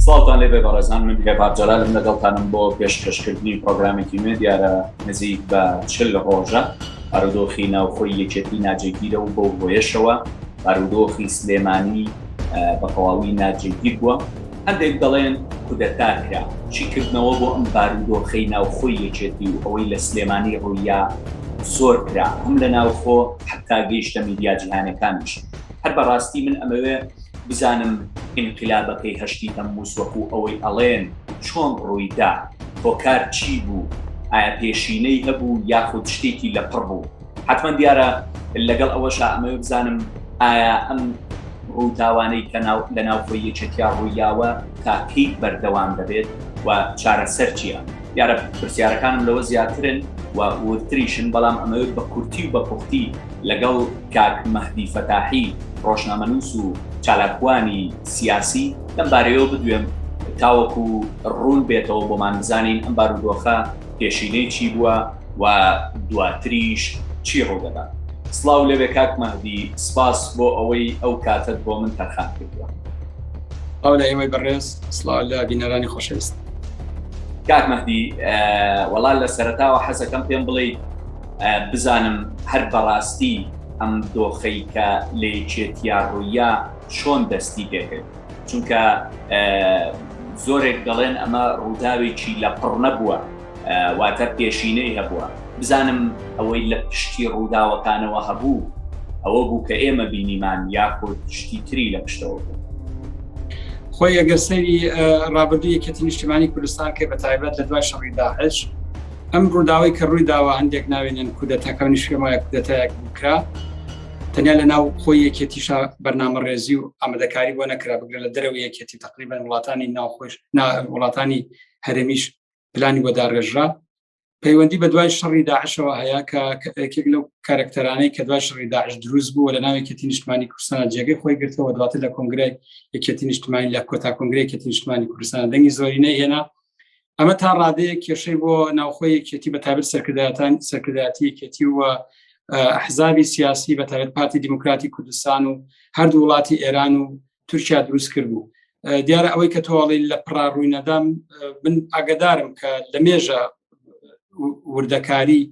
سڵاوتان لێ بێ بەڕێزان من هێڤار جەلالم لەگەڵتانم بۆ پێشکەشکردنی پڕۆگرامێکی نوێ دیارە نزیک بە چل ڕۆژە بارودۆخی ناوخۆی یەکێتی ناجێگیرە و بەو هۆیەشەوە بارودۆخی سلێمانی بە تەواوی ناجێگیر بووە. هەندێک دەڵێن کودەتا کرا، شیکردنەوە بۆ ئەم بارودۆخەی ناوخۆی یەکێتی و ئەوەی لە سلێمانی ڕووییا زۆر کرا، هەم لە ناوخۆ حەتا گەیشتە میدیا جیهانەکانیش. هەر بە ڕاستی من ئەمەوێ بزانم ئینقلابەکەی هەشتی تەمموز وەکوو ئەوەی ئەڵێن چۆن ڕووی دا؟ هۆکار چی بوو؟ ئایا پێشینەی هەبوو یاخود شتێکی لەپڕ بوو؟ حەتمەن دیارە لەگەڵ ئەوەشا ئەمەوێ بزانم ئایا ئەم ڕووداوانەی کە ناو لە ناوخۆی یەکێتیا ڕوویاوە تا کەی بەردەوام دەبێت و چارەسەر چییە؟ دیارە پرسیارەکانم لەوە زیاترن و وردتریشن، بەڵام ئەمەوێت بە کورتی و بە پوختی لەگەڵ کاک مەهدی فەتاحی ڕۆژنامەنووس و چالاکوانی سیاسی لەم بارەیەوە بدوێم تاوەکو ڕوون بێتەوە بۆمان بزانین ئەم بارودۆخە پێشینەی چی بووە و دواتریش چی ڕوودەدات؟ سڵاو لەوێ کاک مەهدی، سپاس بۆ ئەوەی ئەو کاتەت بۆ من تەرخان کردووە. سڵاو لە ئێوەی بەڕێز، سڵاو لە بینەرانی خۆشەویست. کاک مەهدی، وەڵا لە سەرەتاوە حەزەکەم پێم بڵێیت بزانم هەر بەڕاستی ئەم دۆخەی کە لە یەکێتیا ڕووییا چۆن دەستی پێکرد؟ چونکە زۆرێک دەڵێن ئەمە ڕووداوێکی لە پڕ نەبووە واتە پێشینەی هەبووە بزانم ئەوەی لە پشتی ڕووداوەکانەوە هەبوو ئەوە بوو کە ئێمە بینیمان یاخود شتی تری لە پشتەوە بوو خۆی ئەگەر سەری ڕابردوو یەکێتی نیشتمانی کوردستان کە بە تایبەت لە دوای شەڕی داعش ئەم ڕووداوی کە ڕووی داوە هەندێک ناوێنن کودەتەکە نیشێمایە کودەتایەک بکرا تەنیا لە ناو خۆی یەکێتیشا بەرنامە ڕێزی و ئامادەکاری بۆ نەکرا بگرە لە دەرەوە یەکێتی تقریبا وڵاتانی ناوخۆش نا وڵاتانی هەرێمیش پلانی بۆ داڕێژرا پەیوەندی بە دوای شەڕی داعشەوە هەیە کە یەکێک لەو کارکتەرانەی کە دوای شەڕی داعش دروست بوو لە ناوێکێتی نیشتمانی کوردستان جێگەی خۆی گرتەوە دواتر لە کۆنگرای یەکێتی نیشتمانی لە کۆتا کۆنگرێکێتی نیشتمانی کوردستان دەنگی زۆرینەی هێنا ئەمە تا ڕادەیە کێشەی بۆ ناوخۆی یەکێتی بەتابێت سەرکرداتان سەرکرداتی یەکێتی و حزابی سیاسی بەتابێت پارتی دیموکراتی کوردستان و هەردوو وڵاتی ئێران و تورکیا دروست کرد بوو دیارە ئەوەی کە تۆڵی لە پڕا ڕووی نەدام من ئاگدارم کە لە مێژە وردەکاری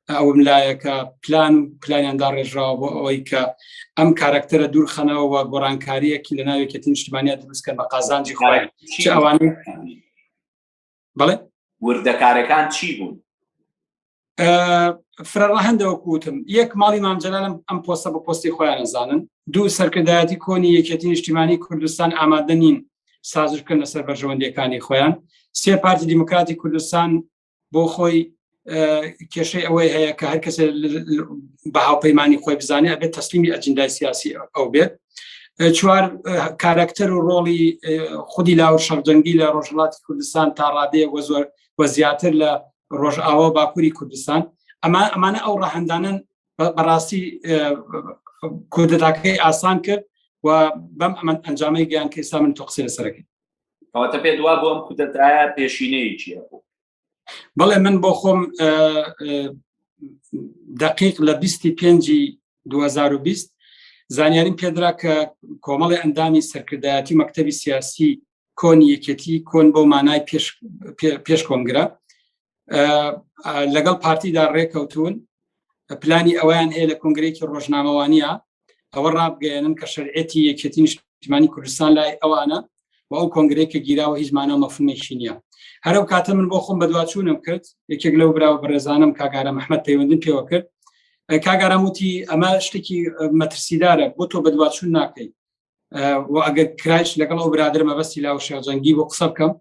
ئەوم لایەکە پلان و پلانیان داڕێژراوە بۆ ئەوەی کە ئەم کارکتەرە دوورخەنەوە و گۆڕانکاریەکی لە ناوێکی تنشتمانیا دروستکە بە قازانجی خۆیان چ ئەوانە بڵێ وردەکارەکان چی بوون فرەڕەهندەوەکوتم یەک ماڵی مامجلالم ئەم پۆستە بە پۆستی خۆیان نەزانن دوو سەرکردایەتی کۆنی یەکێتی نیشتیمانی کوردستان ئامادە نین سازش بکەن لەسەر بەرژەوەندیەکانی خۆیان سێ پارتی دیموکراتی کوردستان بۆ خۆی کێشەی ئەوەی هەیە کە هەر کەسێ بە هاوپەیمانانی خۆی بزانێت ئەبێت تەسلیمی ئەجندای سیاسی ئەو بێت چوار کارکتەر و ڕۆڵی خودی لاو شەرجەنگی لە ڕۆژهڵاتی کوردستان تا ڕادەیە وە زۆر وە زیاتر لە ڕۆژئاوا باکووری کوردستان ئەمە ئەمانە ئەو ڕەهندانن بەڕاستی کوردەتاکەی ئاسان کرد و بەم ئەمەند ئەنجامەی گەیان کە ئێستا من تۆقسی لەسەرەکەی کەواتە پێ دوا بۆ ئەم کودەتایە پێشینەیەکی هەبوو بەڵێ من بۆ خۆم دقیق لە 25 2020 زانیاریم پێدرا کە کۆمەڵی ئەندامی سەرکردایەتی مەکتتەبی سیاسی کۆنی یەکێتی کۆن بۆ مانای پێش کۆنگرە لەگەڵ پارتیدا ڕێکەوتون پلانی ئەویان هەیە لە کنگرێکی ڕۆژنامەوانە ئەوە ڕابگەێنن کە شەرعەتی یەکێتی نیشتمانی کوردستان لای ئەوانە و ئەو کۆنگرێکە گیراوە هیچ مانە مەفهومێکی نییە هەرو کاتە من بۆ خۆم بەدواچوونم کرد یەکێک لەو براوە بەڕێزانم کاگارە مححمد پەیوەندن پێوە کرد کاگاراموتی ئەمە شتێکی مەترسیدارە بۆ تۆ بەدواچوون ناکەیت ئەگەر کرایش لەگەڵ ئەو برادر مەبەستی لاو شێخجەنگی بۆ قسە بکەم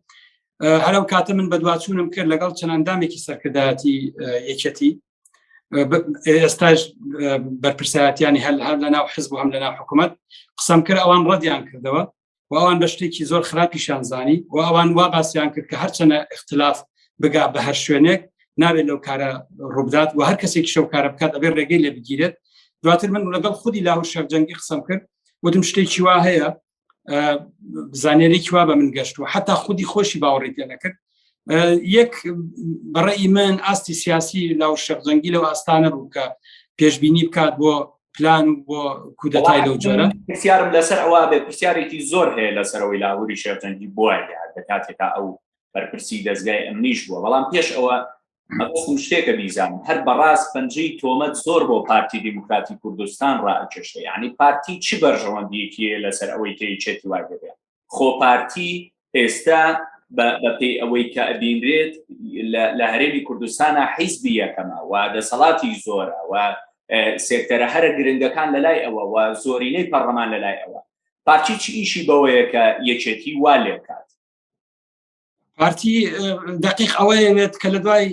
هەرم کاتە من بەدواچوونم کرد لەگەڵ چەند ئەندامێکی سەرکردایەتی یەکەتی ئێستاش بەرپرسایەتیانی هەل هەر لە ناو حزب هەم لە ناو حکوومەت قسەم کرد ئەوان ڕەدیان کردەوە و ئەوان بە شتێکی زۆر خراپیشان زانی و ئەوان وا باسییان کرد کە هەرچەنە اختلاف بگا بە هەر شوێنێک ناوێت لەو کارە ڕووبدات و هەر کەسێک شەو کارە بکات ئەبێ ڕێگەی لێ بگیرێت دواتر من لەگەڵ خودی لاهور شەرجەنگی قسەم کرد وتم شتێکی وا هەیە زانێرێکی وا بە من گەشت و حتا خودی خۆشی باوەڕی پێ نەکرد یەک بەڕێی من ئاستی سیاسی لاو شەرجەنگی لەو ئاستانە بوو کە پێشببینی بکات بۆ پلان و بۆ کودەتای لەو جۆرە پرسیارم لەسەر ئەوە بێ پرسیارێکی زۆر هەیە لەسەرەوەی لاهوری شێرجەنگی بووە دەکاتێکا ئەو بەرپرسی دەستگای ئەمنیش بووە بەڵام پێش ئەوە مەبەستم شتێکە بیزانم هەر بەڕاست پەنجەی تۆمەت زۆر بۆ پارتی دیموکراتی کوردستان ڕائکێشێ یعنی پارتی چی بەرژەوەندیەکیە لەسەر ئەوەی کەی چێتی وای دەبێ خۆ پارتی ئێستا بەپێی ئەوەی کە ئەبینرێت لە هەرێمی کوردستانە حیزبی یەکەمە و دەسەڵاتی زۆرە و سێکتەرە هەرە گرنگەکان لە لای ئەوە و زۆرینەی پەڕەمان لە لای ئەوە پارچی چی ئیشی بەوەیە کە یەکێتی وا لێکات پارتی دقیق ئەوەیەوێت کە لە دوای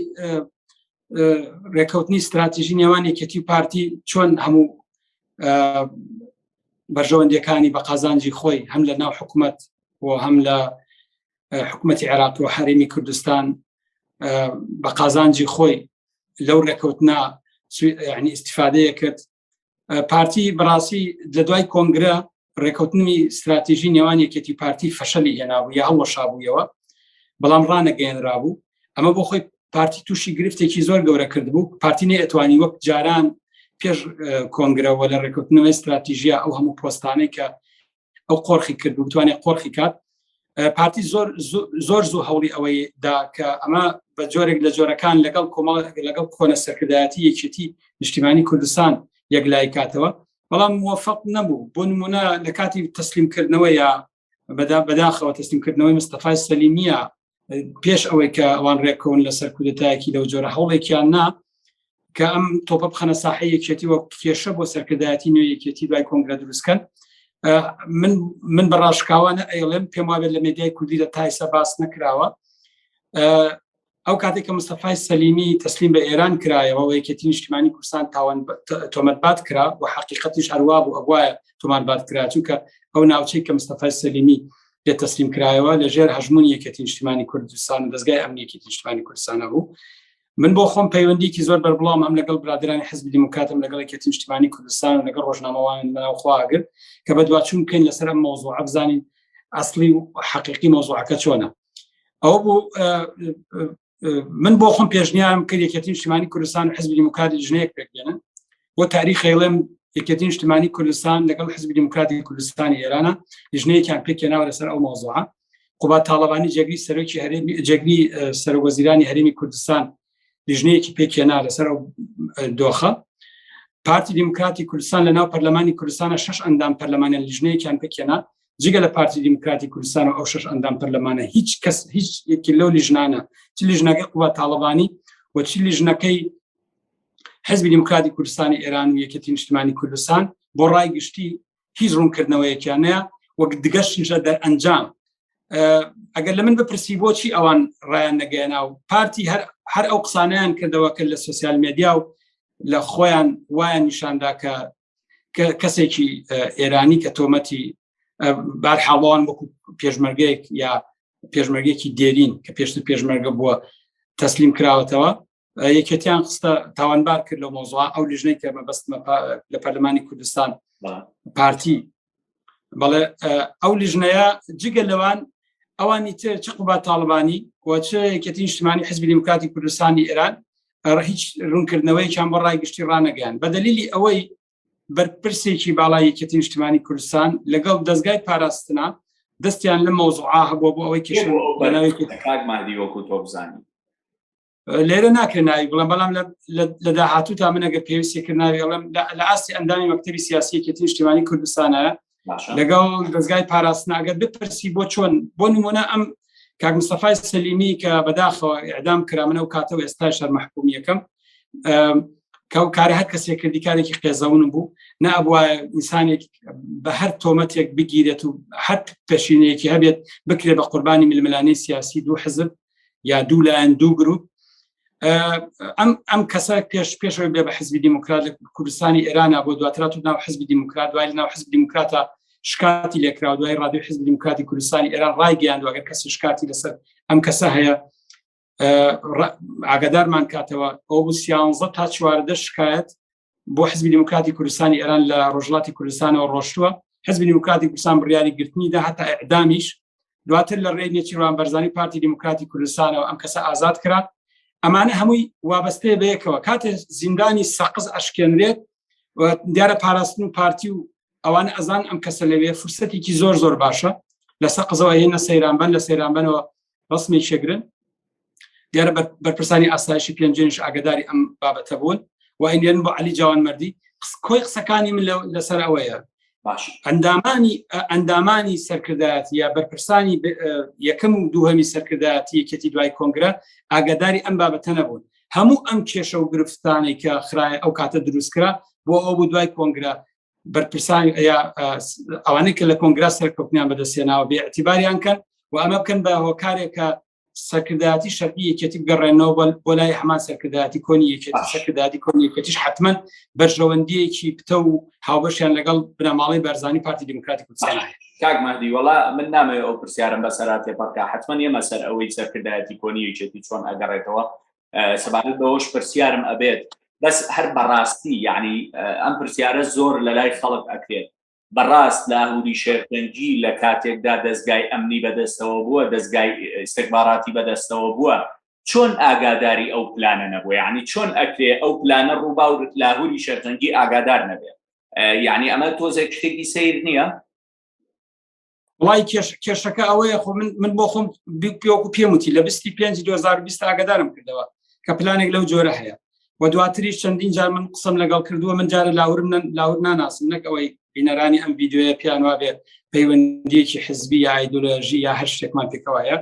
ڕێکەوتنی استراتیژی نێوان یەکەتی و پارتی چۆن هەموو بەرژەوەندەکانی بە قازانجی خۆی هەم لە ناو حکوومەت بۆ هەم لە حکوومەتتی عێراق و حرێمی کوردستان بە قازانجی خۆی لەو ڕێکەوتنا ینی استفادەیە کرد پارتی بەڕاستی لە دوای کۆنگرە ڕێکوتنی استراتیژی نێوان یەکێتی پارتی فەشەلی هێنابوو یا هەڵەشابوویەوە بەڵام ڕانەگەێنرا بوو ئەمە بۆ خۆی پارتی تووشی گرفتێکی زۆر گەورە کرد بوو پارتی نەتوانی وەک جاران پێش کۆنگرەوە لە ڕێکوتنەوەی استراتیژیا ئەو هەموو پۆستانەی کە ئەو قۆرخی کرد و بتوانێت قۆرخی کات پارتی زۆر زۆر زوو هەوڵی ئەوەی دا کە ئەمە بە جۆرێک لە جۆرەکان لەگەڵ کۆمەڵ لەگەڵ کۆنە سەرکردایەتی یەکێتی نیشتیمانی کوردستان یەک لای کاتەوە بەڵام موفق نەبوو بۆ نمونە لە کاتی تەسلیمکردنەوە یا بەدا بەداخەوە تەسلیمکردنەوەی مستەفای سەلیمیە پێش ئەوەی کە ئەوان ڕێکەون لەسەر کودەتایەکی لەو جۆرە هەوڵێکیان نا کە ئەم تۆپە بخەنە ساحی یەکێتی وە کێشە بۆ سەرکردایەتی نوێ یەکێتی دوای کۆنگرە دروستکەن من من بە ڕاشکاوانە ئەیڵێم پێم وابێت لە مێدیای کوردی لە تایسە باس نەکراوە ئەو کاتێک کە مستەفای سەلیمی تەسلیم بە ئێران کرایەوە و یەکێتی نیشتیمانی کوردستان تاوان تۆمەتبات کرا و حقیقەتیش هەروە بوو ئەوایە تۆمانبات کرا چونکە ئەو ناوچەی کە مستەفای سەلیمی پێ تەسلیم کرایەوە لە ژێر هەژمون یەکێتی نیشتیمانی کوردستان و دەستگای ئەمنیەکی نیشتمانی کوردستانە بوو من بۆ خۆم پەیوەندیکی زۆر بەربڵام ئەم لەگەڵ برادرانی حزب دیموکاتم لەگەڵ یەکێتی نیشتمانی کوردستان و لەگەڵ ڕۆژنامەوان مناوخواگر کە بە دواچوون بکەین لەسەر ئەم مۆزوع ئەبزانین ئەاصلی و حقیقی مۆزوعەکە چۆنە ئەو بوو من بۆ خۆم پێشنیارم کرد یەکێتی نیشتمانی کوردستان و حزبی دیموکراتی ژنەیەک پێکدێنن بۆ تاریخی ڵێم یەکێتی نیشتمانی کوردستان لەگەڵ حزبی دیموکراتی کوردستانی ئێرانە لیژنەیەکیان پێکێناوە لەسەر ئەو مۆزوعە قوبا تاالبانی جێگری سەرۆکی هەرێمی جێگری سەرۆوەزیرانی هەرێمی کوردستان لیژنەیەکی پێکێنا لەسەر ئەو دۆخە پارتی دیموکراتی کوردستان لە ناو پەرلەمانی کوردستانە شش ئەندام پەرلەمانە لیژنەیەکیان پێکێنا جگە لە پارتی دیموکراتی کوردستان و ئەو شش ئەندام پەرلەمانە هیچ کەس هیچ یەکی لەو لیژنانە چ لیژنەکەی قوبات تاالبانی و چ لیژنەکەی حزبی دیموکراتی کوردستانی ئێران و یەکەتی نیشتمانی کوردستان بۆ ڕای گشتی هیچ ڕوونکردنەوەیەکیانەیە وەک دگەشتیشە دەر ئەنجام ئەگەر لە من بپرسی بۆچی ئەوان ڕایان نەگەینا و پارتی هەر ئەو قسانیان کردەوە کە لە سوسیال مدیا و لە خۆیان وایان نیشاندا کە کەسێکی ئێرانی کە تۆمەتی بارحاڵان وەکو پێشمەرگەیەک یا پێشمەرگێکی دێرین کە پێشتر پێشمەرگە بووە تەسلیم کراوەتەوە یەکێتیان خستە تاوانبار کرد لە مۆزوا ئەو لیژنەی کە مەبەستمە لە پەرلەمانی کوردستان پارتی بەڵێ ئەو لیژنەیە جگە لەوان ئەوانی تر چ قوبا تاالبانی و چ یەکەتی نیشتمانی حزبی دیموکراتی کوردستانی ئێران هیچ ڕوونکردنەوەیان بۆ ڕای گشتی ڕانەگەیان بە دلیلی ئەوەی بەرپرسێکی باڵای یەکەتی نیشتمانی کوردستان لەگەڵ دەستگای پاراستنا دەستیان لە مەوزوعا هەبوو بۆ ئەوەی کێشەکاگمادی وەکو تۆبزانی لێرە ناکرێ ناوی بڵم بەڵام لە داهاتوو تا منەگە پێویستی کرد ناوی ئەڵم لە ئاستی ئەندامی مەکتتەبی سیاسیەکی تیشتیوانی کوردستانە لەگەڵ دەستگای پاراستناگەر بپرسی بۆ چۆن بۆ نمونە ئەم کاک مستەفای سەلیمی کە بەداخەوە ئەعدام کرا منە و کاتەوە ئێستا شەر مححکومیەکەم کەو کارە هەر کەسێک کردی کارێکی قێزەون بوو نە ئەبووە ئینسانێک بە هەر تۆمەتێک بگیرێت و هەر پێشینەیەکی هەبێت بکرێت بە قوربانی ململانی سیاسی دوو حزب یا دوو لایەن دوو گروپ ئەم ئەم کەسە پێش پێشەوەی بێ بە حزبی دیموکرات لە کوردستانی ئێرانە بۆ دواترات و ناو حزبی دیموکرات دوای ناو حزب دیموکراتە شکاتی لێکرا دوای ڕادوی حزب دیموکراتی کوردستانی ئێران ڕایگەیان دوگەر کەس شکاتی لەسەر ئەم کەسە هەیە ئاگدارمان کاتەوە ئەو سیانزە تا چواردە شکایەت بۆ حزبی دیموکراتی کوردستانی ئێران لە ڕۆژڵاتی کوردستانەوە ڕۆشتووە حزبی دیموکراتی کوردستان بڕیاری گرتنی دا هەتا ئەعدامیش دواتر لە ڕێ نێچیروان بەرزانی پارتی دیموکراتی کوردستانەوە ئەم کەسە ئازاد کرا ئەمانە هەمووی وابەستەیە بەیەکەوە کاتێ زیندانی سەقز ئەشکێنرێت دیارە پاراستن و پارتی و ئەوان ئەزان ئەم کەسە لەوێ فرسەتێکی زۆر زۆر باشە لە سەقزەوە هێنە سەیرانبەن لە سەیرانبەنەوە ڕسمێکی شەگرن دیارە بەرپرسانی ئاسایشی پێنجێنش ئاگداری ئەم بابەتە بوون و ئەینێن بۆ علی جوان مردی کۆی قسەکانی من لەسەر ئەوەیە باش ئەندامانی ئەندامانی سەرکردایەتی یا بەرپرسانی یەکەم و دووهەمی سەرکردایەتی یەکێتی دوای کۆنگرە ئاگداری ئەم بابەتە نەبوون هەموو ئەم کێشە و گرفتانێکە خراە ئەو کاتە دروستکرا بۆ ئەو بوو دوای کۆنگرە بەرپرسان ئەوانەی کە لە کۆنگرا سەرکەوتنیان بەدەستێناوە بێ ئەتیباریان کەن و ئەمە بکەن بە هۆکارێکە سەرکردایەتی شەرعی یەکێتی بگەڕێنەوە بۆ لای هەمان سەرکردایەتی کۆنی یەکێتی سەرکردایەتی کۆنی یەکێتیش حتمما بەرژەوەندیەکی پتە و هاوبەشیان لەگەڵ بنەماڵی بەرزانی پارتی دیموکراتی کوردستان کاک مادی وڵا من نامەوێت ئەو پرسیارم بە سەراتێ پڕکە حتمما ئێمە سەر ئەوەی سەرکردایەتی کۆنی یەکێتی چۆن ئەگەڕێتەوە سەبارەت بەوەش پرسیارم ئەبێت بەس هەر بەڕاستی یعنی ئەم پرسیارە زۆر لە لای خەڵک ئەکرێت بەڕاست لاهوری شێرپەنجی لە کاتێکدا دەستگای ئەمنی بەدەستەوە بووە دەستگای ئستێکباراتی بەدەستەوە بووە چۆن ئاگاداری ئەو پلانە نەبووە یعنی چۆن ئەکرێ ئەو پلانە ڕووبا و لاهوری شێرپەنجی ئاگادار نەبێت یعنی ئەمە تۆزێک شتێکی سیر نییە وڵی کێشەکە ئەوەیە خۆ من من بۆ خۆم پێوەکو پێم وتی لە 25 2020 ئاگدارم کردەوە کە پلانێک لەو جۆرە هەیە و دواتری چەندین جار من قسم لەگەڵ کردووە من جارە لاورم لاور ناناسم نەک ئەوەی بینەرانی ئەم یددیوە پیان وابێ پەیوەندیەکی حزبی یا ئایدۆلۆژی یا هەر شتێکمان پێکەوەیە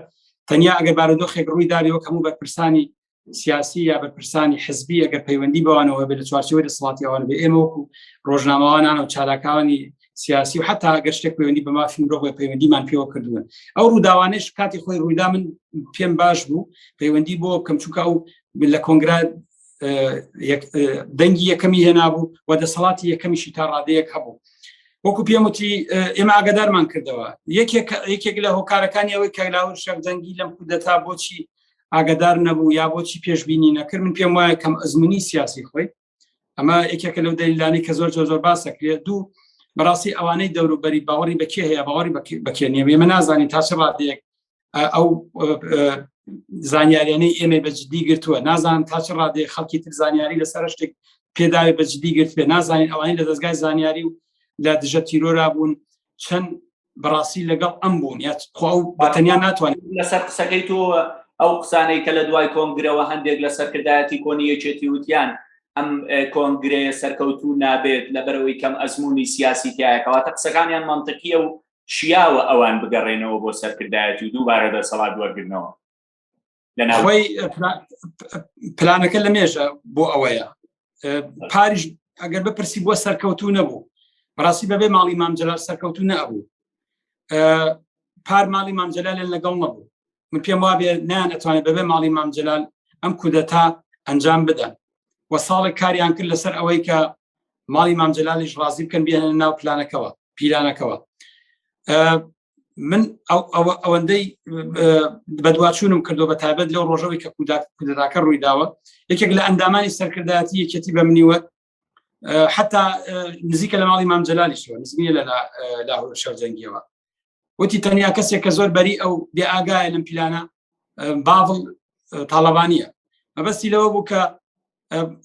تەنیا ئەگەر بارودۆخێک ڕووی داویەوە کەموو بەرپرسانی سیاسی یا بەرپرسانی حزبی ئەگەر پەیوەندی بەوانەوە بێت لە چوارچەوەی دەسەڵاتی ئەوان بێ ئێمە وەکو ڕۆژنامەوانان و چالاکانی سیاسی و حتا گەر شتێک پەیوەندی بە مافی مرۆڤ پەیوەندیمان پێوە کردوون ئەو ڕووداوانش کاتی خۆی ڕوویدا من پێم باش بوو پەیوەندی بۆ کەم چووکە ئەو لە کۆنگرا دەنگی یەکەمی هێنابوو و دەسەڵاتی یەکەمیشی تا ڕادەیەک هەبوو وەکو پێموتی ئێمە ئاگدارمان کردەوە یەکێک لە هۆکارەکانی ئەوەی کەلاور شەفدەنگی لەم کودەتا بۆچی ئاگدار نەبوو یا بۆچی پێشببینی نەکرد من پێم وایە کەم ئەزمموی سیاسی خۆی ئەمە یەکێکە لەو دەیلانی کە زۆر زۆر زۆر باسەکرێت دوو بەڕاستی ئەوانەی دەوروبەری باوەڕی بەکێ هەیە باوەڕی بەکێنیە ئێمە نازانین تا چ ڕادێک ئەو زانیاریانەی ئێمە بەجددی گرتووە نازان تا چ ڕادێ خەڵکی تر زانیاری لەسەر شتێک پێداوی بەجددی گرتێ نازانین ئەوانی لە دەستگای زانیاری و لە دژە تیرۆرا بوون چەند بەڕاستی لەگەڵ ئەم بوون یا خوا و بەتەنیا ناتوانێت لەسەر قسەکەی تۆ ئەو قسانەی کە لە دوای کۆنگرەوە هەندێک لە سەرکردایەتی کۆنی یەکێتی وتیان ئەم کۆنگرەیە سەرکەوتوو نابێت لە بەرەوەی کەم ئەزمموی سیاسی تایەکەواتە قسەکانیان منطقیە و شیاوە ئەوان بگەڕێنەوە بۆ سەرکردایەتی و دووبارە دەسەڵات وەرگرنەوە لەناوی پلانەکە لە مێژە بۆ ئەوەیە پاریش ئەگەر بپرسی بۆ سەرکەوتو نەبوو بەڕاستی بەبێ ماڵی مامجلال سەرکەوتو نەبوو پار ماڵی مامجلال لەگەڵ نەبوو من پێم وابێ نیان ئەتوانێت بەبێ ماڵی مامجلال ئەم کودەتا ئەنجام بدەن و ساڵێک کاریان کرد لەسەر ئەوەی کە ماڵی مامجلالیش ڕازی بکەن بێنە ناو پلانەکەەوە پیلانەکەەوە من ئەوەندەی بەدواچوونم کردو بە تابەت لەو ڕۆژەوەی کە کودراکە ڕووی داوە یەکێک لە ئەندامانی سەرکردایەتی یەکێتی بە منیوە حتا نزیکە لە ماڵی مامجللالی شوە نزمی لە لاهور شەرجەنگیەوە وتی تەنیا کەسێک کە زۆر بەری ئەو بێ ئاگایە لەم پیلانە باڵ تاالبانە مەبەستی لەوە بوو کە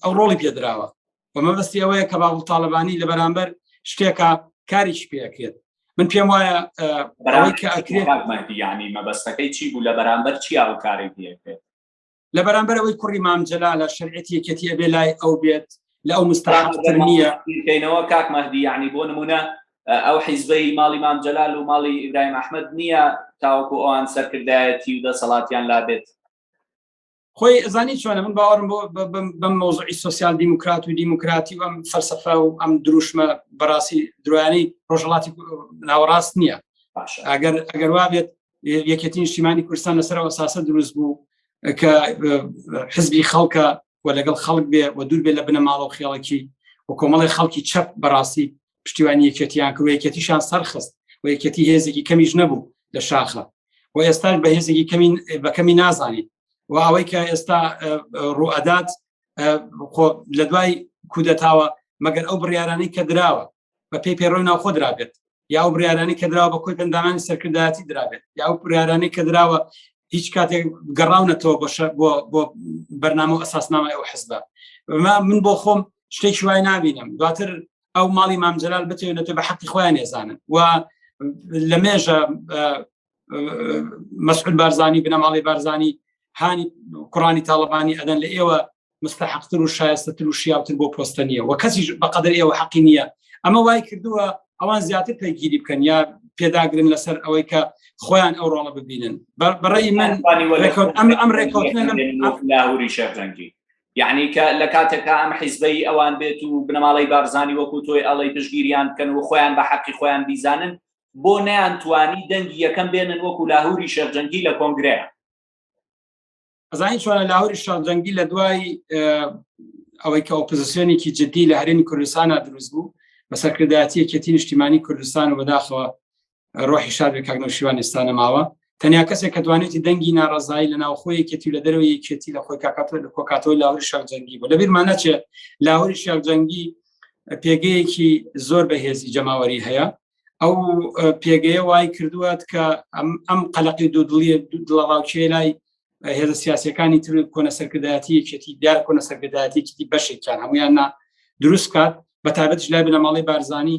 ئەو ڕۆڵی پێدراوە و مەبەستی ئەوەیە کە باڵ تاالبانی لە بەرامبەر شتێکە کاریش پێکرێت من پێم وایە ینی مەبەستەکەی چی بوو لە بەرامبەر چی ئەو کاری پێکرێت لە بەرامبەر ئەوەی کوڕی مامجللا لە شەرعەتی یەکەتی ئەبێ لای ئەو بێت لە ئەو مستراحتر نییە کەینەوە کاک مەدی ینی بۆ نمونە ئەو حیزبەی ماڵی مام جەلال و ماڵی ئیبراهیم ئەحمد نییە تاوەکو ئەوان سەرکردایەتی و دەسەڵاتیان لابێت خۆی زانی چۆنە من باوەڕم بۆ بەم مۆزعی سوسیال دیموکرات و دیموکراتی و ئەم فەرسەفە و ئەم دروشمە بەڕاستی درانی ڕۆژهڵاتی ناوەڕاست نییە ئەگەر ئەگەر وابێت یەکێتی نیشتیمانی کوردستان لەسەرەوە ساسە دروست بوو کە حزبی خەڵکە و لەگەڵ خەڵک بێ و دوور بێ لە بنەماڵە و خێڵکی و کۆمەڵی خەڵکی چەپ بەڕاستی پشتیوانی یەکێتیان کرد یەکێتیشان سەرخست و یەکێتی هێزێکی کەمیش نەبوو لە شاخە و ئێستاش بە هێزێکی کەمین بەکەمی نازانیت و ئەوەی کە ئێستا ڕوئەدات لە دوای کودەتاوە مەگەر ئەو بڕیارانی کە دراوە بە پێی پێڕۆی ناوخۆ درابێت یا ئەو بریارانی کە دراوە بە کۆی پندانانی سەرکردایەتی درابێت یا ئەو بریارانی کە دراوە هیچ کاتێک گەڕاونەتەوە بۆ بۆ بەرنامە و ئەساسنامە ئەو حزبە من بۆ خۆم شتێکی وای نبینم دواتر ئەو ماڵی مام جلال بتێنێت بە حەقی خۆیان ێزانن و لە مێژە مەسعود بارزانانی بنەماڵی بارزانانی هانی کوڕانی تاالبانی ئەدەن لە ئێوە مستحقتر و شایستەتر و شیاوتر بۆ پۆستە نیە و کەسی بەقدر ئێوە حەقی نییە ئەمە وای کردووە ئەوان زیاتر پێگیری بکەن یا پێداگرن لەسەر ئەوەی کە خۆیان ئەو ڕۆڵە ببینن بەڕێی من ئەم ڕێکوتنە لاهوری شەرجەنگی یعنی کە لە کاتێکا ئەم حیزبەی ئەوان بێت و بنەماڵەی بارزانی وەکو تۆی ئەڵەی پشگیریان بکەن و خۆیان بە حەقی خۆیان بیزانن بۆ نەیان توانی دەنگی یەکەم بێنن وەکو لاهوری شێخجەنگی لە کۆنگرەیە ئەزانی چۆنە لاهوری شێخجەنگی لە دوای ئەوەی کە ئۆپزیسیۆنێکی جددی لە هەرێمی کوردستانە دروست بوو بە سەرکردایەتیەکێتی نیشتیمانی کوردستان و بەداخەوە ڕۆحی شاد بێ کاک نەوشیوان ئێستا نەماوە تەنیا کەسێک کە دوانێتی دەنگی ناڕزایی لە ناوخۆ یەکێتی لە دەرەوە یەکێتی لە خۆی کاکات لە کۆکاتەوە لاوری شاک جەنگی بۆ لەبیرمان نەچێ لاوری شاک جەنگی پێگەیەکی زۆر بەهێزی جەماوەری هەیە ئەو پێگەیە وای کردووات کە ئەم قەلقی دوو دڵی دڵەڕاوکێ لای هێزە سیاسەکانی تر کۆنە سەرکردایەتی یەکێتی دیار کۆنە سەرکردایەتیکی بەشێکیان هەمویان نا دروست کات بە تابەت لای بنەماڵی بارزانانی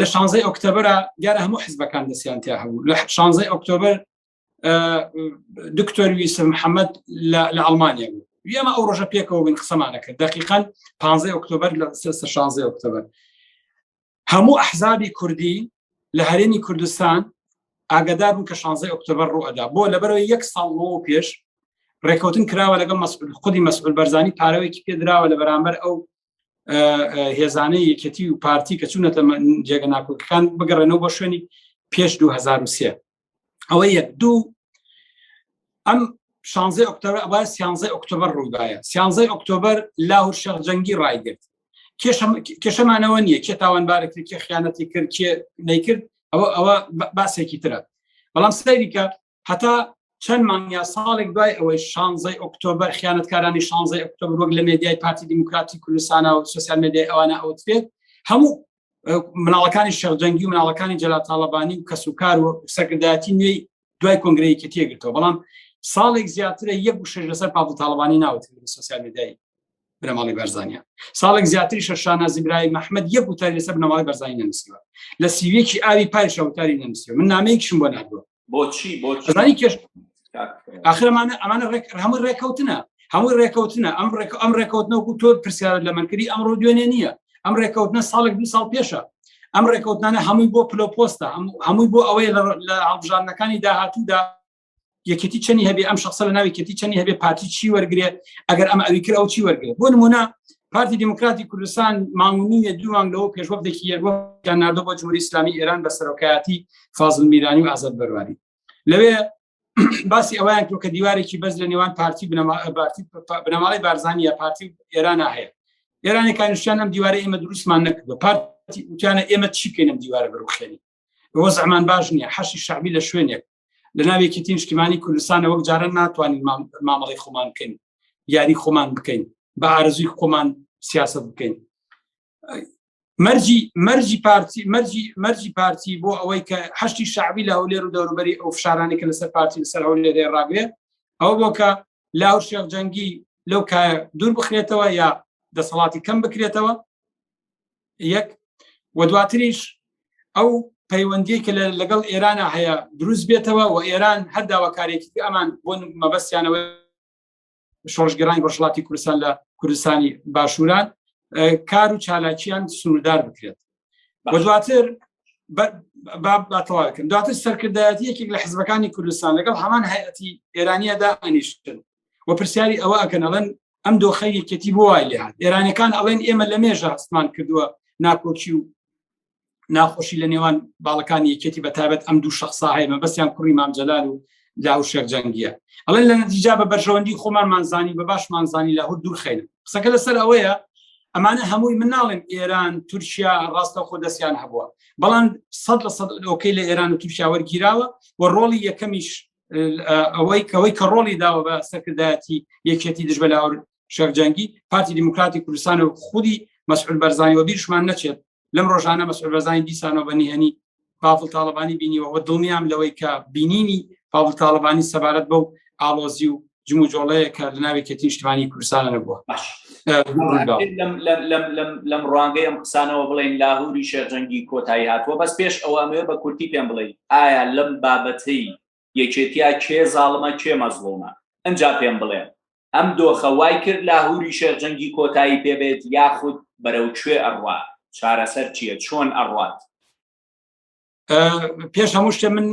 لە شانزەی ئۆکتۆبرە دیارە هەموو حزبەکان دەستیان تیا هەبوو لە شانزەی ئۆکتۆبر دکتۆر ویسم محەممەد لە ئەڵمانیا بوو ئێمە ئەو ڕۆژە پێکەوە بن قسەمانە کرد دقیقان 15 ئۆکتۆبر لە 16 ئۆکتۆبر هەموو ئەحزابی کوردی لە هەرێمی کوردستان ئاگدار بوو کە 16 ئۆکتۆبر ڕوئدا بۆ لەبەرەوە یەک ساڵ بۆ پێش ڕێکوتن کراوە لەگەڵ خودی مەسئول بەرزانی پارەوەیکی پێدراوە لە بەرامبەر ئەو هێزانەی یەکەتی و پارتی کە چوونەتە جێگە ناکۆکەکان بگەڕێنەوە بۆ شوێنی پێش 2023 ئەوە یەک دوو ئەم شانزە ئۆکتۆبر ئەوە سیانزە ئۆکتۆبر ڕووداە سیانزە ئۆکتۆبر لاهور شەخ جەنگی ڕایگرت کێشەمانەوە نییە کێ تاوانبارێکی کێ خیانەتی کرد کێ نەیکرد ئەوە ئەوە باسێکی ترە بەڵام سەریکە هەتا چەند مانگ یا ساڵێک دوای ئەوەی شانزەی ئۆکتۆبر خیانەتکارانی شانزەی ئۆکتۆبر وەک لە مێدیای پارتی دیموکراتی کوردستانە و سوسیال مێدیای ئەوانە ئەوترێت هەموو مناڵەکانی شەرجەنگی و مناڵەکانی جەلاتاڵەبانی و کەس و کار و سەرکردایەتی نوێی دوای کۆنگرەیەکی تێگرتەوە بەڵام ساڵێک زیاترە یەک و شش لەسەر پاڵ تاڵبانی ناوت سوسیال مێدیای بنەماڵی بەرزانیا ساڵێک زیاتری شەشانە زیبرای مححمد یەک وتاری لەسەر بنەماڵی بەرزانی نەنووسیوە لە سیوێکی ئاوی پایشە وتاری نەنووسیوە من نامەیەکشم بۆ نردووە بۆچی بۆچی کێش ئاخرمانە ئەمانە ڕێک هەموو ڕێککەوتنە هەموو ڕێککەوتنە ئەم ڕێک ئەم ڕێککەوتنەوەکو تۆ پرسیارت لە منکردی ئەمڕۆ دوێنێ نییە ئەم ڕێککەوتنە ساڵێک دو ساڵ پێشە ئەم ڕێککەوتانە هەمووی بۆ پلۆپۆستە هەمووی بۆ ئەوەیە لە هەڵبژاردنەکانی داهاتوودا یەکێتی چەنی هەبێ ئەم شخصە لە ناوی کێتی چەنی هەبێ پارتی چی وەرگێ ئەگەر ئەمە ئەوی کرد ئەو چی وەرگێ بۆ نمونە پارتی دموکراتی کوردستان ماونیە دووان لەوە پێشوەبدێکی یەوەیان نردۆ بۆ جمهوری ئسلامی ئێران بە سەرۆکایەتی فازل میرانی و ئازاد بەرواری لەوێ باسی ئەویان کرد کە دیوارێکی بەس لە نێوان پارتی بنەماڵی بارزانانی یا پارتی ئێران هەیە ئێرانی کانشیان ئەم دیوارە ئێمە دروستمان نەکرد بە پارتی وتیانە ئێمە چی کەینم دیوارە بەروخێنی بۆ زەمان باش نییە حەشی شعبی لە شوێنێک لە ناوێکی تینشتیمانی کوردستانە وەک جارە ناتوانین مامەڵی خۆمان بکەین یاری خۆمان بکەین بە ئارزوی خۆمان سیاست بکەین مەرجی مەرجی پارتی مەرجی مەرجی پارتی بۆ ئەوەی کە هەشتی شعبی لە هەولێر و دەوروبەری ئەو فشارانی کە لەسەر پارتی لەسەر هەولێرێ ڕاگرێ ئەو بۆ کە لاو شێخ جەنگی لەو کایە دوور بخرێتەوە یا دەسەڵاتی کەم بکرێتەوە یەک و دواتریش ئەو پەیوەندی کە لەگەڵ ئێرانە هەیە دروست بێتەوە و ئێران هەر داواکارێکی ئەمان بۆ مەبەستیانەوە شۆژگەرانی ڕژڵاتی کوردستان لە کوردستانی باشووران کار و چالاکیان سنووردار بکرێت بە دواتر باتەواکن دواتر سەرکردایەتی یەکێک لە حزبەکانی کوردستان لەگەڵ هەمان هەیەتی ئێرانیەدا ئەنیشتن و پرسیاری ئەوە ئەکەنەڵەن ئەم دۆخە یەکێتی بۆ وای لێهات ئێرانەکان ئەڵێن ئێمە لە مێژە هەستمان کردووە ناکۆکی و ناخۆشی لە نێوان باڵەکانی یەکێتی بە تابەت ئەم دوو شخصا هەیە مەبەستیان کوڕی مامجلال و لاهور شێخ جەنگیە ئەڵێ لە نەتیجا بە بەرژەوەندی خۆمانمانزانی بە باشمانزانی لاهور دوورخین قسەکە لەسەر ئەوەیە ئەمانە هەمووی مناڵێن ئێران تورکیا ڕاستە خۆ دەستیان هەبووە بەڵام سەد لە سەد ئۆکەی لە ئێران و تورکیا وەرگیراوە و ڕۆڵی یەکەمیش ئەوەی کەەوەی کە ڕۆڵی داوە بە سەرکردایەتی یەکێتی دژ بە لاور شەرجەنگی پارتی دیموکراتی کوردستان و خودی مەسعود بەرزانی وەبیرشمان نەچێت لەم ڕۆژانە مەسعود بەرزانی دیسانەوە بە نهێنی پاڤڵ تاڵەبانی بینیوە و دڵنیام لەوەی کە بینینی پاڤڵ تاڵەبانی سەبارەت بەو ئاڵۆزی و جم و جۆڵەیە کە لە ناوێکی تیشتوانی کوردستانە نەبووە باش لەم ڕوانگەی ئەم قسانەوە بڵێن لاهوری شێرجەنگی کۆتایی هاتووە بەس پێش ئەوە ئەمێ بە کورتی پێم بڵێ ئایا لەم بابەتەی یەکێتیا کێ زاڵمە کێ مەزڵومە ئنجا پێم بڵێن ئەم دۆخە وای کرد لاهوری شێخ جەنگی کۆتایی پێ بێت یاخود بەرەو کوێ ئەڕوا چارەسەر چییە چۆن ئەڕات پێش هەموو شتە من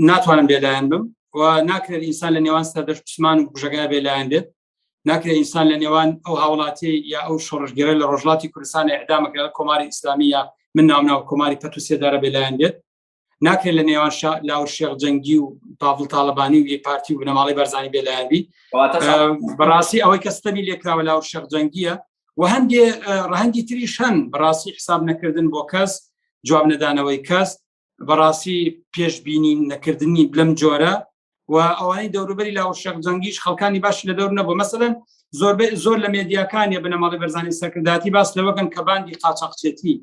ناتوانم بێلایەن بم و ناکرێت ئینسان لە نێوان سەردەش پسمان و بژەگای بێلایەن بێت ناکرێت ئینسان لە نێوان ئەو هاوڵاتی یا ئەو شۆڕژگەرە لە ڕۆژڵاتی کوردستانی ئەدامەکە کۆماری ئیسلامیە من ناوناو کۆماری پەتوسێدارە بێلایەن بێت ناکرێت لە نێوان لاور شێخ جەنگی و پاڤڵ تاالبانی و یەک پارتی و بنەماڵی بەرزانی بێلایەنبی بەڕاستی ئەوەی کە ستەمی لێکراوە لاور شێخ جەنگیە و هەندێ ڕەهەندی تریش هەن بەڕاستی حساب نەکردن بۆ کەس جواب نەدانەوەی کەس بەڕاستی پێشببینی نەکردنی بلم جۆرە و ئەوانەی دەوروبەری لا و شەق جەنگیش خەڵکانی باش لە دەور نەبوو مەسەن زۆربەی زۆر لە مێدیاکانی بنەماڵی بەرزانی سەکرداتی باس لەوەکەن کە باندی قاچاقچێتی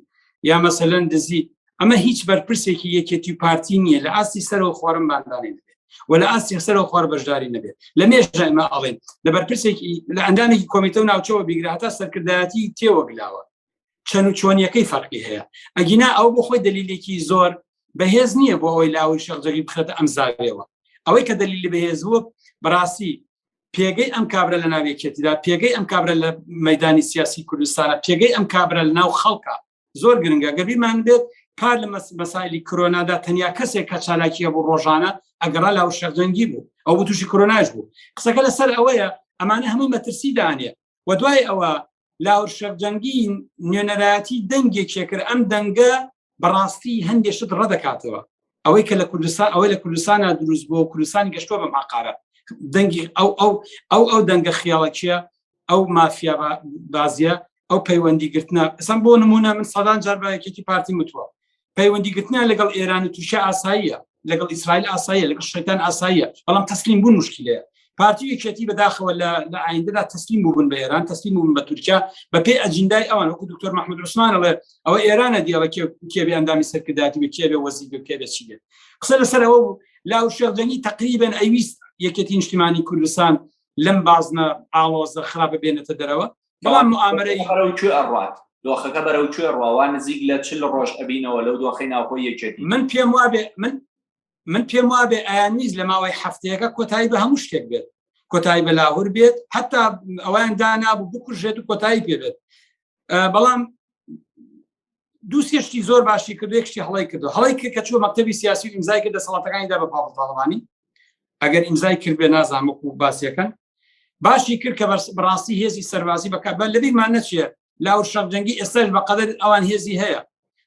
یا مەسەلەن دزی ئەمە هیچ بەرپرسێکی یەکێتی و پارتی نییە لە ئاستی سەرەوە خۆرم باندانێن و لە ئاستی سەرەوە خۆر بەشداری نەبێت لە مێژمە ئەڵێن لە بەرپرسێکی لە ئەندامێکی کۆمیتە و ناوچەوە بیگراتە سەرکردایەتی تێوەگلاوە چەند و چۆنیەکەی فەرقی هەیە ئەگینا ئەو بۆ خۆی دلیلێکی زۆر بەهێز نییە بۆ ئەوەی لاوی شەرجەری بخێتە ئەم زاوێەوە ئەوەی کە دلیلی بەهێز بووە بەڕاستی پێگەی ئەم کابرا لە ناوێکێتیدا پێگەی ئەم کابرا لە مەدانی سیاسی کوردستانە پێگەی ئەم کابرا لە ناو خەڵکە زۆر گرنگە گەبیمان بێت پار لە مەسایلی کرۆنادا تەنیا کەسێک کە چالاکیە بۆ ڕۆژانە ئەگەڕا لاو شەرجەنگی بوو ئەو تووشی کرۆناش بوو قسەکە لەسەر ئەوەیە ئەمانە هەمووی مەترسی دانێ و دوای ئەوە لاور شەرجەنگی نوێنەرایەتی دەنگێک شێکرد ئەم دەنگە بەڕاستی هەندێک شت ڕەدەکاتەوە ئەوەی کە لە کوردستان ئەوەی لە کوردستانە دروست بۆ کوردستان گەشتوە بەم عقارە دەنگی ئەو ئەو ئەو ئەو دەنگە خیاڵەکیە ئەو مافیا بازیە ئەو پەیوەندی گرتنە ئەسم بۆ نمونە من سەدان جار بەکێتی پارتی متوە پەیوەندیگرتنیان لەگەڵ ئێران و تورکیا ئاساییە لەگەڵ ئیسرائیل ئاساییە لەگەڵ شەیتان ئاساییە بەڵام تەسلیم بوون مشکلەیە پارتی یەکێتی بەداخەوە لە لە ئایندەدا تەسلیم بوون بە ئێران تەسلیم بوون بە تورکیا بە پێی ئەجیندای ئەوان وەکو دکتۆر محمود عوسمانەڵێ ئەوە ئێرانە دیەڵە کێبێ ئەندامی سەرکرداتی بە کێبێ وەزی بە کێبێ چی بێت قسە لەسەر ئەوە بوو لا و شێخجەنگی تقریبن ئەویست یەکێتی نیشتیمانی کوردستان لەم بازنە ئاڵۆزە خراپە بێنێتە دەرەوە بەڵام موامرەی بەرەو کوێ ئەڕات دۆخەکە بەرەو کوێ ڕواوە نزیک لە چل ڕۆژ ئەبینەوە لەو دۆخی ناوخۆ یەکێتی من پێم وابێ من من پێم وابێ ئایان نیز لە ماوەی هەفتەیەەکە کۆتایی بە هەموو شتێک بێت کۆتایی بە لاهور بێت هەتا ئەویان دانابوو بکوژێت و کۆتایی پێ بێت بەڵام دوو سێشتی زۆر باشی کرد یەکشتی هەڵی کرد هەڵی کرد کە چوە مەکتتەبی سیاسی و ئیمزای کرد دەسەڵاتەکانیدا بە پاڵتاڵبانی ئەگەر ئیمزای کرد بێ نازانمک و باسیەکەن باشی کرد کە بەڕاستی هێزی سەربازی بەکات بە لەبیمان نەچێت لا و شەرجەنگی ئێستاش بەقدر ئەوان هێزی هەیە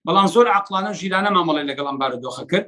بەڵام زۆر عقلانە و ژیرانە مامەڵی لەگەڵم بارودۆخە کرد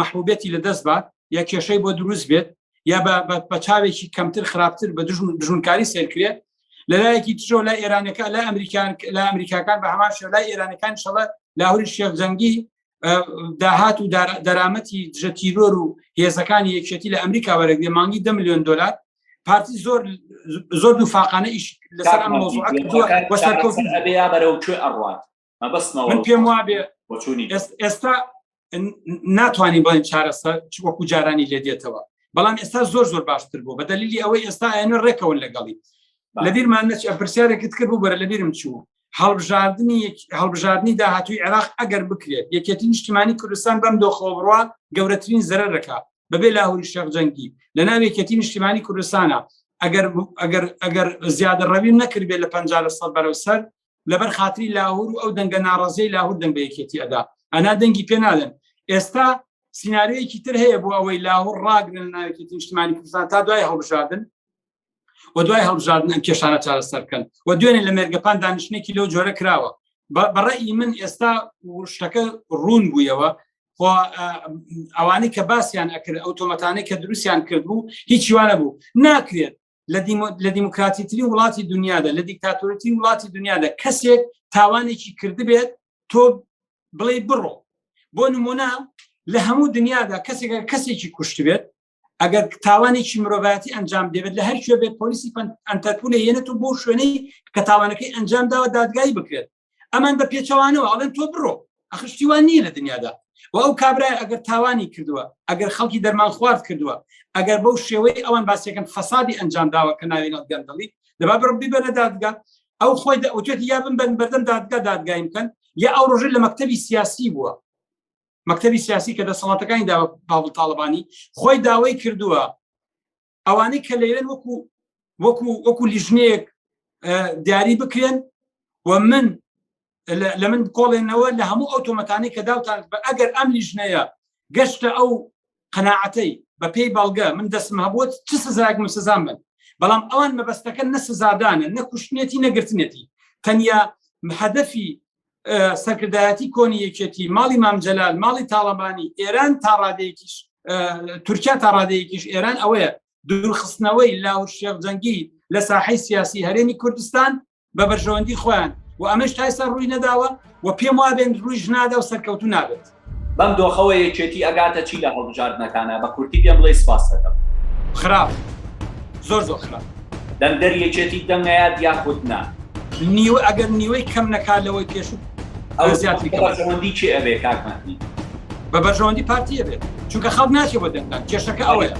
مەحبوبێتی لەدەست بات یا کێشەی بۆ دروست بێت یا بە چاوێکی کەمتر خراپتر بە دژونکاری سێرکرێت لەلایەکی ترۆ لە ئێرانەکە لە ئەمریکان لە ئەمریکاکان بە هەمان شە لای ئێرانەکان شەڵە لاهوری شێخ جەنگی داهات و دەرامەتی دژە تیرۆر و هێزەکانی یەکێتی لە ئەمریکا وەرەگرێ مانگی ده میلیۆن دلار پارتی زۆر زۆر دوو فاقانە ئیش لەسەر ئەم مۆزوعەکە بەرەو کوێ ئەڕات من پێم وابێ ئێستا ناتوانین بڵێن چارەسەر وەکو جارانی لێ دێتەوە بەڵام ئێستا زۆر زۆر باشتر بوو بە دەلیلی ئەوەی ئێستا ئەێنە ڕێکەوەن لەگەڵی لە بیرمان نەچ پرسیارێکت کرد بوو بەرە لە بیرم چوو هەڵبژاردننی هەڵبژاردننی داهاتوی عێراق ئەگەر بکرێت یەکێتی نیشتیمانی کوردستان بەم دۆخەوە بڕە گەورەترین زەرە دەکات بەبێ لاهوری شەق جەنگی لە ناوێکێتی نیشتیمانی کوردستانە ئەگەر ئەگەر ئەگەر زیادە ڕەوی نەکردێت لە پ لە سەد بەرەو سەر لەبەر خاتری لاهور و ئەو دەنگە ناڕازەی لاهور دەنگ بە یەکێتی ئەدا ئەنا دەنگی پێ نادەن ئێستا سینناارەیەکی تر هەیە بۆ ئەوەی لاهور ڕاگرن ناوێکی نیشتمانی کوردستان تا دوای هەڵبژاردن و دوای هەڵبژاردن ئەم کێشانە چارەسەرکەن و دوێنێ لە مێرگەپان دانیشتێکی لەو جۆرە کراوە بەڕێی من ئێستا شتەکە ڕوون بوویەوە ئەوانەی کە باسییان ئەکرد ئەو تۆمەتانەی کە دروستیان کردبوو هیچیوانە بوو ناکرێت لە دیموکراتیترین وڵاتی دنیادا لە دیکتاتۆرەتین وڵاتی دنیادا کەسێک تاوانێکی کردبێت تۆ بڵێ بڕۆ بۆ نمونە لە هەموو دنیادا کەسێک کەسێکی کوشتبێت ئەگەر تاوانێکی مرۆڤایەتی ئەنجام دەبێت لە هەر کوێ بێت پۆلیسی ئەتەرپولە یەنێت و بۆ شوێنەی کە تاوانەکەی ئەنجام داوە دادگایی بکرێت ئەمان بە پێچەوانەوە ئەڵێن تۆ بڕۆ ئەخشتیوان نییە لە دنیادا و ئەو کابرای ئەگەر تاوانی کردووە ئەگەر خەڵکی دەرمان خوارد کردووە ئەگەر بەو شێوەی ئەوان باسیەکەن فەسادی ئەنجام داوە کە ناوێنە گەندەڵی دەبا بڕبی بەرە دادگا ئەو خۆی ئەوتێتی یا بن بەن بەردەم دادگا دادگایم بکەن یا ئەو ڕۆژە لە مەکتتەبی سیاسی بووە مەکتتەبی سیاسی کە دەسەڵاتەکانی داوە باڵ تاالبانی خۆی داوای کردووە ئەوانەی کە لەوێن وەکو وەکو وەکو لیژنەیەک دیاری بکرێن و من لە من بکۆڵێنەوە لە هەموو ئەو تۆمەتانی کە داوتان بە ئەگەر ئەم لیژنەیە گەشتە ئەو قەنەعەتەی بە پێی بەڵگە من دەستم هەبووت چ سزایەک من سزان بن بەڵام ئەوان مەبەستەکە نە سزادانە نەکوشتنێتی نەگرتنێتی تەنیا هەدەفی سەرکردایەتی کۆنی یەکێتی ماڵی مامجلال ماڵی تاڵەبانی ئێران تا ڕادەیەکیش تورکیا تا ڕادەیەکیش ئێران ئەوەیە دوورخستنەوەی لاو شێخ جەنگی لە ساحەی سیاسی هەرێمی کوردستان بە بەرژەوەندی خۆیان و ئەمەش تایسا ڕووی نەداوە و پێم وابێن ڕووی ژنادا و سەرکەوتو نابێت. بەم دۆخەوە یەکێتی ئەگاتە چی لە هەڵبژاردنەکانا بە کورتی پێم بڵێ سپاستەکەم. خراپ زۆر زۆر خراپ. دەنگدەری یەکێتی دەنگ ئەیات یاخود نا؟ نیوە ئەگەر نیوەی کەم نەکات لەوەی پێشوو ئەو زیاتری کە بەرژەوەندی چی ئەبێ کاک مەهدی؟ بە بەرژەوەندی پارتی ئەبێت چونکە خەڵک ناچێ بۆ دەنگدان کێشەکە ئەوەیە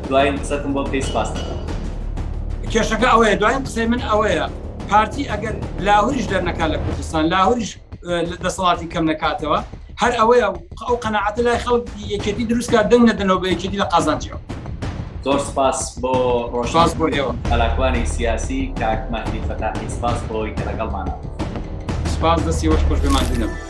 دواین قسەتم بۆ بکەی سپاس دەکەم. کێشەکە ئەوەیە دواین قسەی من ئەوەیە پارتی ئەگەر لاهوریش دەرنەکات لە کوردستان لاهوریش دەسەڵاتی کەم نەکاتەوە هەر ئەوەیە ئەو قەنەعاتە لای خەڵک یەکێتی دروستکە دەنگ نەدەنەوە بە یەکێتی لە قازانجیەوە زۆر سپاس بۆ ڕۆژاز بۆ ئێوە ئەلاکوانی سیاسی کاک مەهدی فەتاحی سپاس بۆی کە لەگەڵمانە سپاس دەستی وەش خۆش بێمان دینەوە